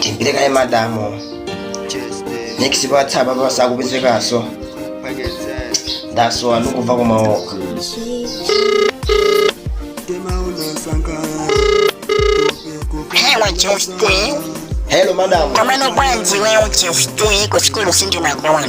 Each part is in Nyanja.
timpire kaye madamu next patsapa pasakupezekaso ndasowa ndikuva kumaoka Hello, Jeffrey. hello madamu Komano bwanji wewe Jeffrey kushukuru sindi na kuona.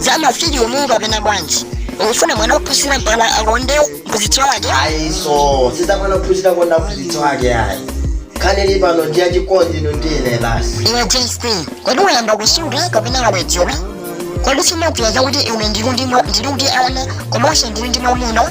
za mafilimu mongopenga bwanji ukufuna mwana wophunzira mpaka akonde mphunzitsi wake ayi iso si za mwana wophunzira kukonda mphunzitsi wake ayi nkhani ili pano ndi yachikondi iwe ndi ine basi iwe jst kodi wayamba kusuta kapena wabwebwetuka kodi simakuwuza zakuti iwe ndiri ndi mwa- ndiri kuti ana komanso ndiri ndi mwamuna